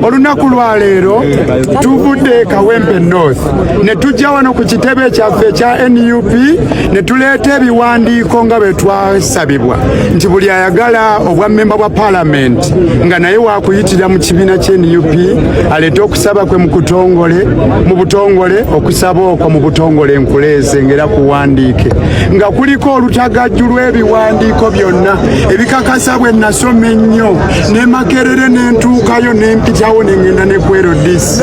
olunaku lwa leero tuvudde e kawempe north ne tujja wano ku kitebe kyaffe ekya nup ne tuleeta ebiwandiiko nga bwe twasabibwa nti buli ayagala obwa mmemba bwa palamenti nga naye wakuyitira mu kibiina kye nup aleete okusaba kwe mukutongole mu butongole okusaba okwo mu butongole nkuleeze ngaera kuwandiike nga kuliko olutagajju lw'ebiwandiiko byonna ebikakasa bwe nasoma ennyo ne makerere ne ntuukayo ne mpitawo ne ŋŋenda ne ku rdc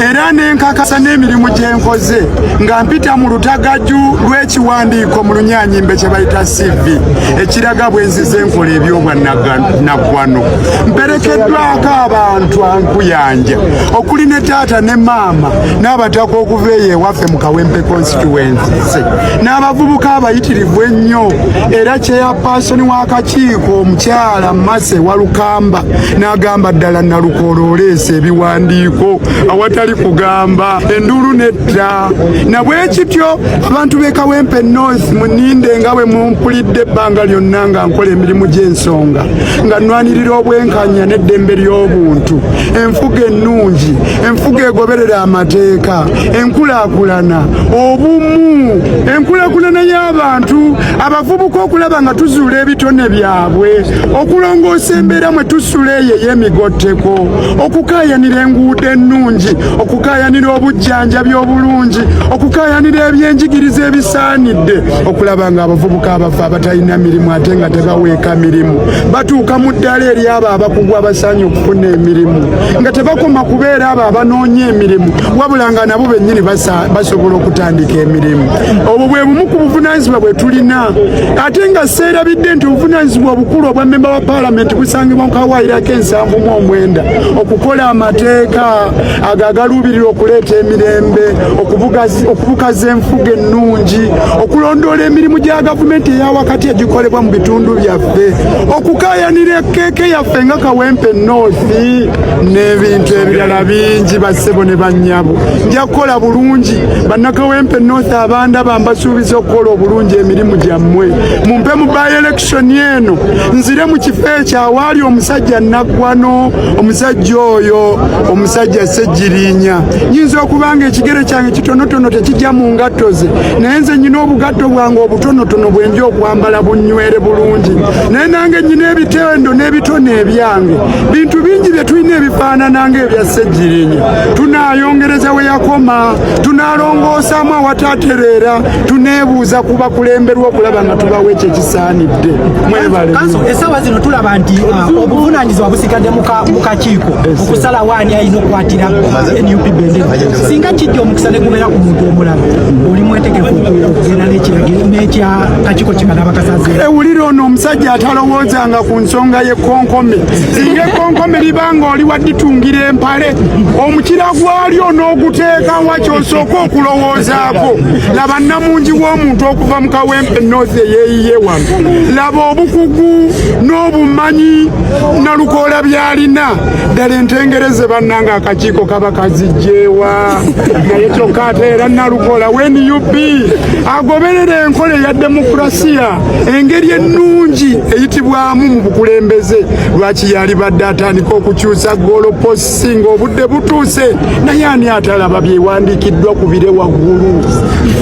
era ne nkakasa n'emirimu gye nkoze nga mpita mu lutagaju lw'ekiwandiiko mu lunyanyimbe kye bayita cv ekiraga bwe nzize enkola ebyobwannaggwano mperekeddwako abantu ankuyanja okuli ne taata ne maama n'abataka okuva eyo ewaffe mu kawempe constituense n'abavubuka abayitirivu ennyo era kyeyapaasoni w'akakiiko omukyala Alamase walukamba n'agamba ddala Nalukoola oleese ebiwandiiko awatali kugamba enduulu netta na bwe kityo abantu b'e Kawempe North muninde nga bwe mumpulidde ebbanga lyonna nga nkola emirimu gy'ensonga nga nnwanirira obwenkanya n'eddembe ly'obuntu enfuga ennungi enfuga egoberera amateeka enkulaakulana obumu enkulaakulana y'abantu abavubuka okulaba nga tuzuula ebitone byabwe okulongoosa embeera mwe tusula eyo ey'emigotteko okukaayanira enguudo ennungi okukaayanira obujjanjabi obulungi okukaayanira ebyenjigiriza ebisaanidde okulaba nga abavubuka abafa abatalina mirimu ate nga tebaweeka mirimu batuuka mu ddala eri abo abakugu abasaanye okufuna emirimu nga tebakoma kubeera abo abanoonya emirimu wabula nga nabo bennyini basobola okutandika emirimu obwo bwe bumu ku buvunaanyizibwa bwe tulina ate nga seerabidde nti obuvunaanyizibwa obukulu obwa mmemba wa paalamenti busangibwa mu kawaayiro ak'ensanvu mu omwenda okukola amateeka ago agaluubirira okuleeta emirembe okubukaza enfuga ennungi okulondoola emirimu gya gavumenti eyawakati egikolebwa mu bitundu byaffe okukaayanira ekeeke yaffe nga kawempe noosi n'ebintu ebirala bingi bassebo ne bannyabo nja kukola bulungi bannakawempe north abanda bambasuubiza okukola obulungi emirimu gyammwe mumpe mu by election eno nzire mu kifo ekyo awaali omusajja naggwano omusajja oyo omusajja sejjirinya nyinza okuba nga ekigere kyange kitonotono tekijja mu ngatto ze naye nze nyina obugatto bwange obutonotono bwenja okwambala bunywere bulungi naye nange nyina ebitendo n'ebitone ebyange bintu bingi bye tulina ebifaanana nga ebya sejjirinya tunaayongereza we yakoma tunaalongoosaamu awataatereera tuneebuuza ku bakulemberwa okulaba nga tubawo ekyo ekisaanidde mwebaleessaawa zino tulaba nti uh, obuvunaanyizibwa busigadde mu kakiiko okusalawo ani alina okukwatira nup bendera singa kijja omukisa ne gubeera ku muntu omulala oli mwetegefu okugenda n'ekiragiro n'ekya kakiiko kimala abakasaze ewulira ono omusajja atalowoozanga ku nsonga y'ekkonkome singa ekkonkome liba nga oli waditungira empa omukira gwalyo n'oguteekawa kyosooka okulowoozaako laba nnamungi w'omuntu okuva mu kawempe north eyeeyiye wano laba obukugu n'obumanyi nalukoola byalina ddala entengereze bannanga akakiiko kaba kazijjeewa naye kyokka ate era nalukoola wnup agoberera enkola eya demokurasiya engeri ennungi eyitibwamu mu bukulembeze lwaki yalibadde atandika okukyusa goloposi ng'obudde butuuse naye ani atalaba byewandiikiddwa ku bire waggulu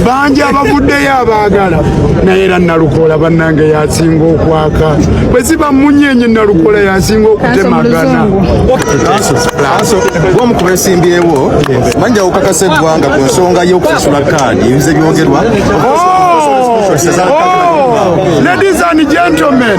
bangi abavuddeyo abaagala naye era nalukoola bannange yasinga okwaka bwe ziba munyenye nalukoola yasinga okutemagana omu ku besimbyewo manja okakasa eggwanga ku nsonga y'okusasula kaadi ebize byogerwa oh! Oh! ladies and gentlemen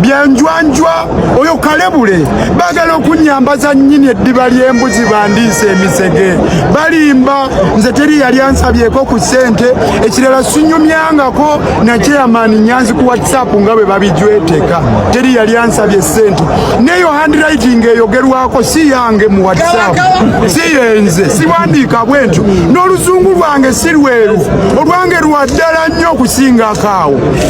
byanjwanjwa oyo kalebule bagala okunyambaza nyini eddiba ly'embuzi bandiisa emisege balimba nze teri yali ansabyeko ku ssente ekirala sinyumyangako nakyeyamaani nyanzi ku whatsapp nga bwe babijweteka teri yali ansabye ssente neyo handwriting eyogerwako si yange mu whatsapp si yenze siwandiika bwentyo n'oluzungu lwange si lweru olwange lwa ddala nnyo okusingako awo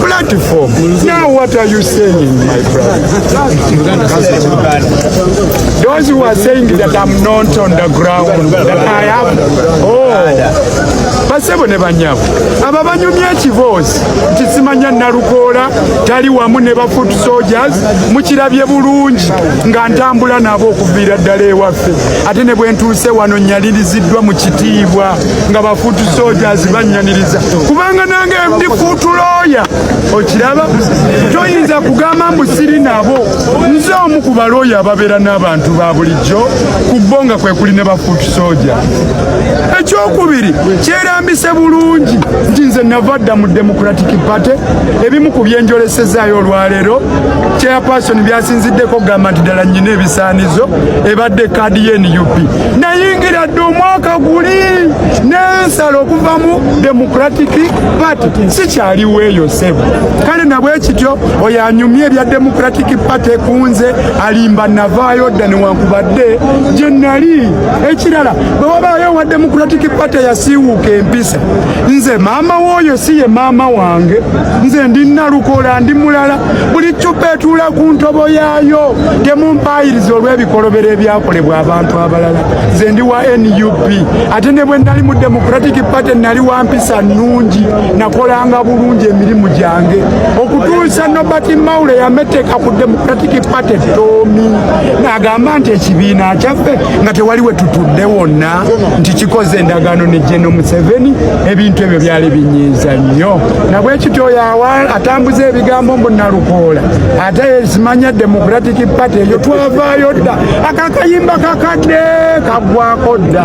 platform. Now what are you saying, my brother? Those who are saying that I'm not on the ground, that I have, oh, basebo ne banyabo aba banyumya ekiboozi nti simanya nalukoola tali wamu ne ba foot soldiers mukirabye bulungi nga ntambula nabo okuviira ddala ewaffe ate ne bwentuuse wano nyaliriziddwa mu kitiibwa nga bafuutu sojazi bannyaniriza kubanga nange ndi fuutu looya okiraba toyinza kugamba mbu siri nabo nze omu ku balooya ababeera n'abantu ba bulijjo ku bo nga kwe kuli ne bafuutu soja ekyokubiri kyerambise bulungi nti nze nava dda mu democratic party ebimu ku byenjolesezaayo olwaleero chairperson byasinziddeko okugamba nti ddala nnyina ebisaanizo ebadde kaadi ye nup nayingira dde omwaka guli nensala okuvamu democratic party sikyaliwo eyo sebo kale nabwe kityo oyo anyumye ebya democratic party kunze alimba navaayo dda newankubadde gye nali ekirala bwe wabaayo owa democratic party yasiiwuuka empisa nze maama wooyo si ye maama wange nze ndi nalukola ndi mulala buli ccupa etuula ku ntobo yaayo temumpaayiriza olw'ebikolobero ebyakolebwa abantu abalala nze ndi wa nup ate ne bwe nali mu democratic party nali wa mpisa nnungi nakolanga bulungi emirimu gyange okutuusa nobert maule yameteeka ku democratic party toomi n'agamba nti ekibiina kyaffe nga tewali we tutudde wonna nti kikoze endagaano ne geno museveni ebintu ebyo byali binyiiza nnyo na bwekityo yawa atambuza ebigambo mbu nalukoola ate yesimanya democratic party eyo twavaayo dda akakayimba kakadde kagwako dda